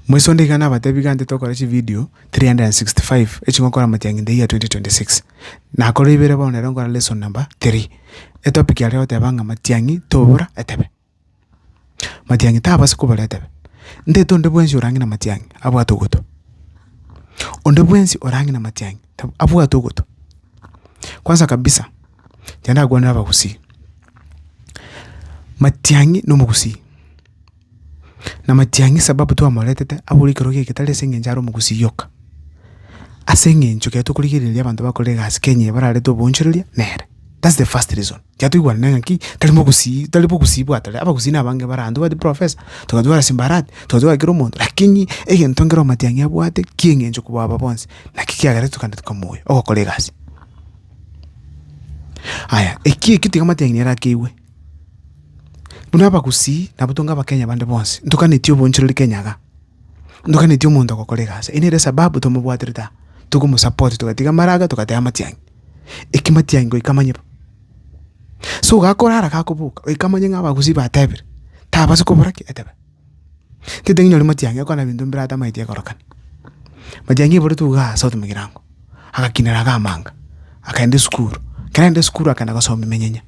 Moisonde iga nabatebi gante tokore chividio 365 echingokora amatiang'i in the year 2026. Nakore ibere bono nero nkore lesson number 3. Etopic aria goteba ng'a amatiang'i tobura etebe. Matiang'i tabasi kobaretera, ntaete onde bwensi orang'e na matiang'i abwate ogotua. Onde bwensi orang'e na matiang'i tab abwate ogotua. Kwanza kabisa, inche ndakwanere abagusii, matiang'i na omogusii, na matiang'i sababu twamoretete abore ekero geke tari ase eng'encho are omogusii oka, ase eng'encho ekero tokorigereria abanto bakore egasi Kenya eye bararete oboonchoreria nere. That's the first reason ekiagera toigwanane ng'a ki tari bogusii tari bogusii bwatare, abagusii na abange bare ande, obwate professor, togatwara simbarati, togatwara kera omonto, lakini egento nkere omatiang'i abwate ki'eng'encho kobua aba bonsi, naki kiagera tokande tokamoyia ogokora egasi. Aya, ekio ekio tiga amatiang'i nere akeigwe, buna abagusii nabo tonga abakenya bande bonsi, ntoganeti obonchereri kenya iga, ntoganeti omonto ogokora egasi, ere nere esababu tomobwatire taa, togomosupport togatiga amaraga togateba amatiang'i. ekematianyi goika amanye bo. So gakorara gakoboka goika amanye ng'a abagusii batebire, tabasi kobora ki? Etebia. Tinteti ng'inyore matiang'i akwana ebinto mbire atamaeti ekorokana. Matiang'i eburetwe igaa ase otomogirango, agakinera iga amanga, akaenda esukuru, ekero arenge esukuru akaenda gosomia emenyenya,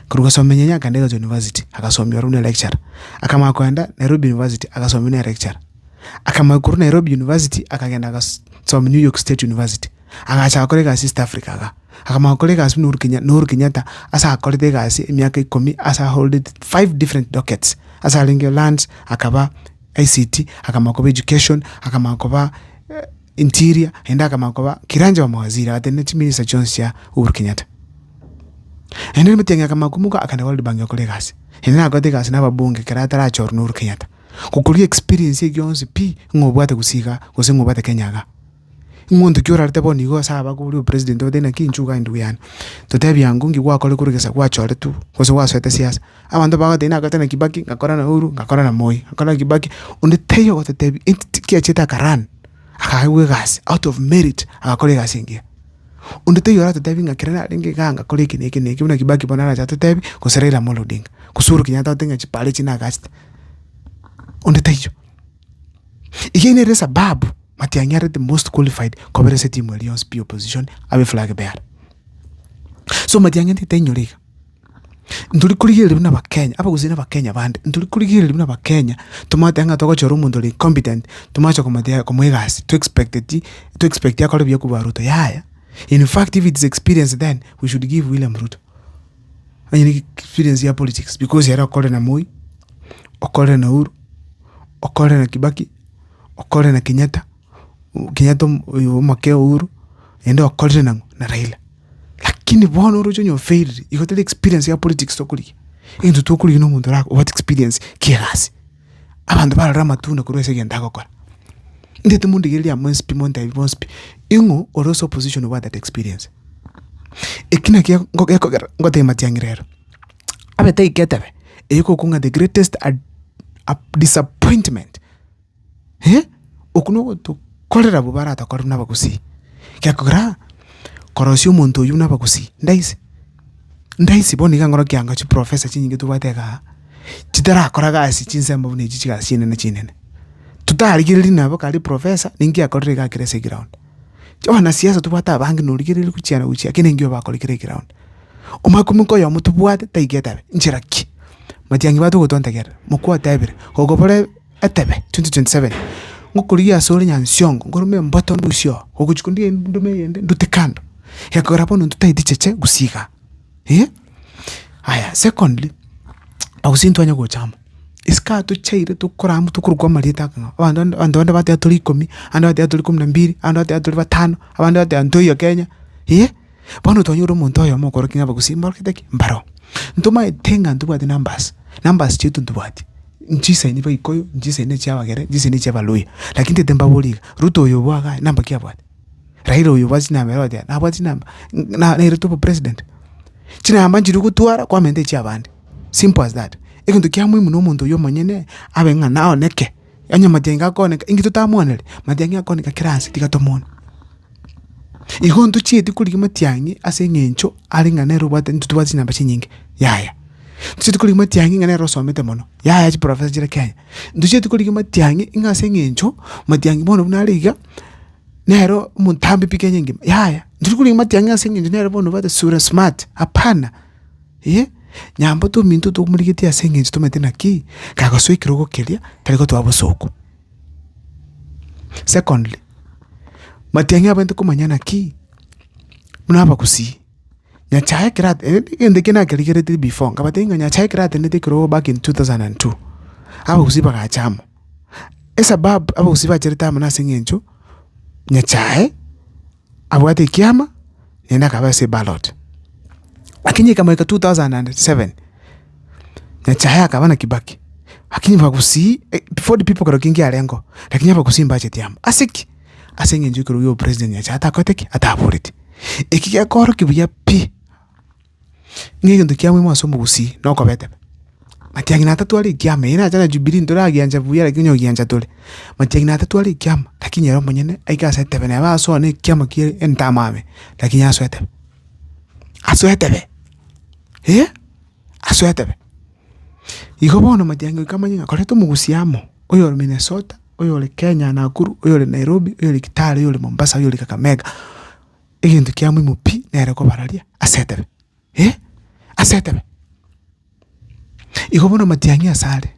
korwa gosomia emenyenya akaenda erio university agasomia ore buna electurer. Akamanya koenda Nairobi university agasomia buna electurer, akamanya korwa Nairobi university akagenda agas somia New York state university. agacha agakora egasi East Africa iga, akamanya gokora egasi buna Uhuru Kenyatta, na Uhuru Kenyatta ase akorete egasi emiaka ikomi ase a holded five different dockets, ase arenge lands, akaba ICT, akamanya koba education, akamanya koba interior, naende akamanya koba kiranja wa mawaziri, agatebia na chiminista chionsi chia Uhuru Kenyatta. Naende ere Matiang'i akamanya komoka akagenda World Bank gokora egasi, naende nakorete egasi na ababunge ekero atarachorwa na Uhuru Kenyatta, gokoria experience eye gionsi pi ng'a obwate gose iga, gose ng'a obwate Kenya iga. Ing'oonto ki orarete bono igo ase aba kobua opresident obatebia naki inchuo kae ndugu yaani totebie ango nki gwakore korwa egesa gwachoretwe gose gwasoete siasa abanto bagotebi nakorete na kibaki ngakora na uhuru ngakora na moi ngakora na kibaki onde taiyo ogototebia entity ki achete aka run akaegwa egasi out of merit agakora egasi engiya onde taiyo oratotebi ng'a ekero narenge igaa ngakora eke na eke na eke buna kibaki bono arache atotebi gose raila amolo odinga gose uhuru kenyatta agote ng'a chipara echi nagachete onde taiyo. Eyio nere esababu matianyarete most qualified kobera ase etimu eria yonsi pi opposition abe flag bearer. So matianyaete gotebi nyore iga, ntori korigereria buna abakenya abagusii na abakenya bande, ntori korigereria buna abakenya tomanyete ng'a togochora omonto ore incompetent tomache komotebia komoa egasi to expecteti to expect akore buya korwa Ruto yaya. In fact if it is experience then we should give William Ruto. Onye ne experience ya politics because ere okorire na Moi, okorire na Uhuru, okorire na Kibaki, okorire na Kenyatta, Kenyatta om- oyo omokee o Uhuru, naende okorire nang'o? Na Raila. Lakini bono oroche onye ofailire, igo tari experience ya politics tokorigia, egento tokorigia na omonto ora obwate experience kiegasi. Abanto barore amatunda korwa ase egento agokora. Inche timondigereria amo inspi montebi bonsi pi, ing'o ore ase opposition obwate that experience. Eki naki ege- ngo- gekogera ngotebia matiang'i rero, abe taika etebe eye ekokong'a the greatest ad- ap- disappointment eh, okwo nogotokorera abwo baratokorerwe na abagusii, gekogera korosia omonto oyio buna abagusii, ndaise. Ndaisi bono iga nkorokia ng'a chiprofesa chinyinge tobwate iga aa, chitarakora gasi chinsemo buna echi chigasi chinene chinene. Totarigereiri nabo kare eprofesa ninki yakorire iga kera ase egraound. Chiwanasiasa tobwate abange na origereiri gochia na gochia ekero engiya obakore kera egraound. Omanye koba nko oyomo tobwate taigete abe, nchera ki? Matiang'i bato gotontegerera, mokwo otebire, gokobore. etebe, 2027 ngokorigia ase ore Nyansiongo, nkorome emboto ndusie oo, ogochia kondigia endume eyende ndute kando, ekogera bono intwe taeti cheche gusii igaa eh. Aya secondly, ago gose ntitwanya gocha amo, isiko aya tochaire tokora amo tokorokwa amarieta ake ng'a abanto bande abanto bande bateba tori ikomi, abande bateba tori ikomi na mbiri, abande bateba tori batano, abande bateba ntoiyo Kenya eh. Bono twanyora omonto oyomo okorokigwa ng'a abagusii mborokete ki? Mbaro. Ntomaete ng'a ntobwate numbers, numbers chiaito ntobwati, nchisaini Abaikuyu, nchisaini chia Abagere, nchisaini chia Abaluhya. Lakini ntagete mbaborie iga, Ruto oyo obwo igaa namba ki abwate? Raila oyo obwate chinamba ere ogochia nabwati chinamba? Ng' na nairete obe president? Chinamba nchiri gotwara kwamenta echiabande. Simple as that. Egento kia muhimu nomonto oyo omonyene abe ng'a naoneke. Onye mayenga akoneka, inki totamwaneri? Mayenga akoneka kera ase, tiga tomwane. Igo ntochieti korigia matiang'i ase eng'encho are ng'a nere obwate intwe tobwate chinamba chinyinge, yaya. Ntochieti korigia matiang'i ng'a nere osomete mono, yaya chiprofesa chire Kenya. Ntochieti korigia matiang'i ng'a ase eng'encho, matiang'i bono buna are iga, nero omontambe pi Kenya engima, yaya. Ntochieti korigia matiang'i ase eng'encho nere bono obwate sura smart, hapana. Ee, nyambo tominto tokomorigetie ase engencho tomaete naki, kagosoa ekerogo keria, tari gotoa bosooku. Secondly, matiang'i abo nto komanya naki, buna abagusii, Nyachae ekero egento ekia nakerigeretie before, nkabatebi ng'a Nyachae ekero atenenete ekerogo back in two thousand and two, abagusii bagacha amo. Esababu abagusii bacherete amo nase engencho, Nyachae. abwate ekiama naende akaba ase eballot. Lakini ekamoika two thousand and seven, Nyachae akaba na Kibaki, lakini bagusii Ford people kero kegio kiarengo, lakini abagusii mbacheti amo. Ase ki? Ase eng'encho ekero oyio president Nyachae atakoreti ki? Ataboreti. Eki gekorokigwa buya pi. Ng'a egento kia moimo ase omogusii nokobetema. Matiang'ina atatwa are ekiama, eye nacha na Jubilee ntoragiancha buya lakini onye ogiancha tore. Matiang'ina atatwa are ekiama, lakini ere omonyene aike ase etebe neba ase one ekiama kie entamame, lakini ase etebe. Ase etebe, eh, ase etebe. Igo bono matiang'ina goika amanye ng'a koreta omogusii amo, oyore Minnesota, oyore Kenya Nakuru, oyore Nairobi, oyore Kitale, oyore Mombasa, oyore Kakamega, Egento kia moimo pi nere kobararia ase etebe, eh, ase etebe. Igo bono amatiang'i ase are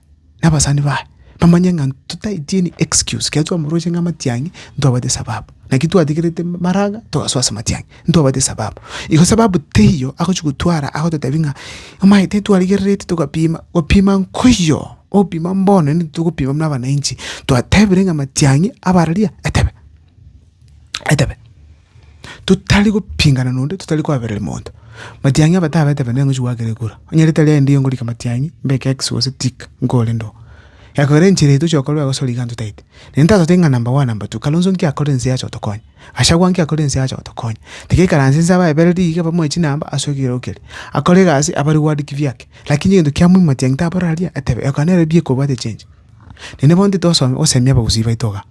na abasani baye bamanye ng'a totaeti any excuse ekero twamorosia ng'a amatiang'i ntwabwate esababu. Naki twategerete maraga togasoa ase amatiang'i, ntwabwate esababu. Igo sababu teiyo agochi gotwara agototebi ng'a omanyete twarigerereti togapima, gopima nkoiyo, ogopima mbono naende titogopima buna abanainchi, twatebire ng'a amatiang'i abararia etebe. etebe totari gopingana nonde totari koabereri monto. Matiang'i abataba etebe nigo ngochi goakera ekura, onye ritari aye ndiyo ngorika matiang'i mbeke X gose tick nkore ndo. Eya kabere enchera eye tochia gokorwa egosori iga ntotaete. Naende ntatotebe ng'a number one number two, Kalonzo nki akorire nse yacha gotokonya? Gachagua nki akorire nse yacha gotokonya? Tigaikaranse nse abaebereri iga bamoe chinamba ase ekerogo keria. Akore egasi abare ward kivyake. Lakini egento kia muhimu matiang'i tabarore aria etebe, ekero nere ebiya ekobwate echengi. Naende bono titosome gosemia abagusii baito iga.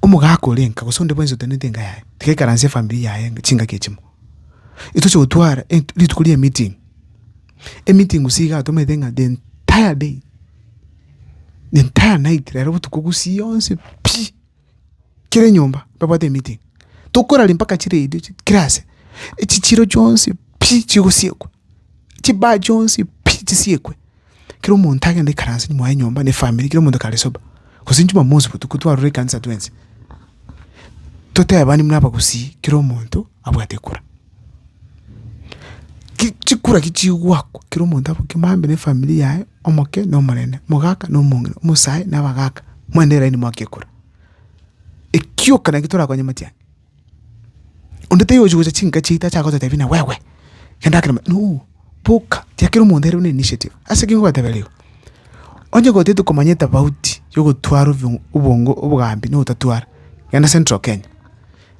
Omogaka ore nka gose onde bwensi oteneneti enka yaye, tiga aikaransie efamiri yaye chingaki echimo. Etoche gotwara ent- rituko ri'emeeting, emeeting gose iga atomanyete ng'a the entire day, the entire night rero botuko gusii yonsi pi, kera enyomba babwate emeeting. Tokoraria mpaka chiredio chi kera ase, echichiro chionsi pi chigosiekwa, chibaa chionsi pi chisiekwe. Kera omonto agende ikaranse nyuma y'enyomba n'efamiri, kera omonto kare sober. Gose Jumamosi botuko twarure ekanisa twensi, totebani buna abagusii kera omonto abwate kura. Ki chikura ki chigoakwa, kera omonto aboke maambe n'efamiri yaye, omoke na omonene, omogaka na omong'ina, omosae na abagaka, mwane line mwake ekura. Ekioka naki torakonye matiang'i. Onde taiyo ochi gocha chinka chiaito ache agototebia ng'a wewe, genda akere amo, no, boka, tiakera omonto ere buna initiative. Ase ki ngobatebera igo? Onye gotete komanya etofauti ya ogotwara obio obongo obogambi na ogotatwara, genda central Kenya.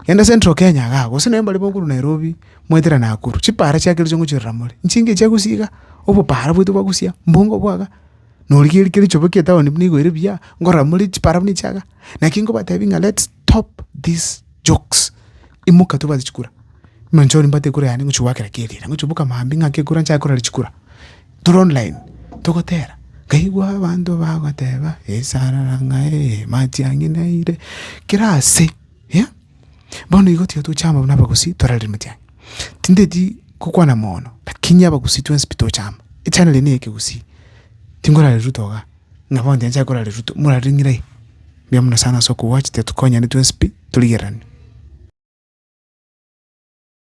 Genda central Kenya iga iga, gose naende mbare bokorwa Nairobi mwaetera Nakuru, chipara chiakeire chia ngochirora more, nchinke chia gusii iga, obopara bwaito bwa gusii iga, mbongo obwo iga, norigereria kera echoba kia etown buna igo ere buya, nkorora more chipara buna echi iga. Naki ngobatebi ng'a let's. Stop these jokes imoka tobwate chikura buna inche oria mbwate ekura yane ngochia goakera keri ere ngochia boka maambia ng'ake ekura nchake korera chikura tore online togotera nkaigwa abanto bagoteba esarara ng'aee matiang'i naire kera ase eh bono igo tiga tochama buna abagusii torarire matiang'i tindeti gokwana mono lakini abagusii twensi pi tochama echanera eye na eyekegusii tingorare Ruto igaa. Nabo onye tanchare korara rituko morare ng'irai, mbuya mono sana ase okogwa tiga tokonyane twensi pi torigererane.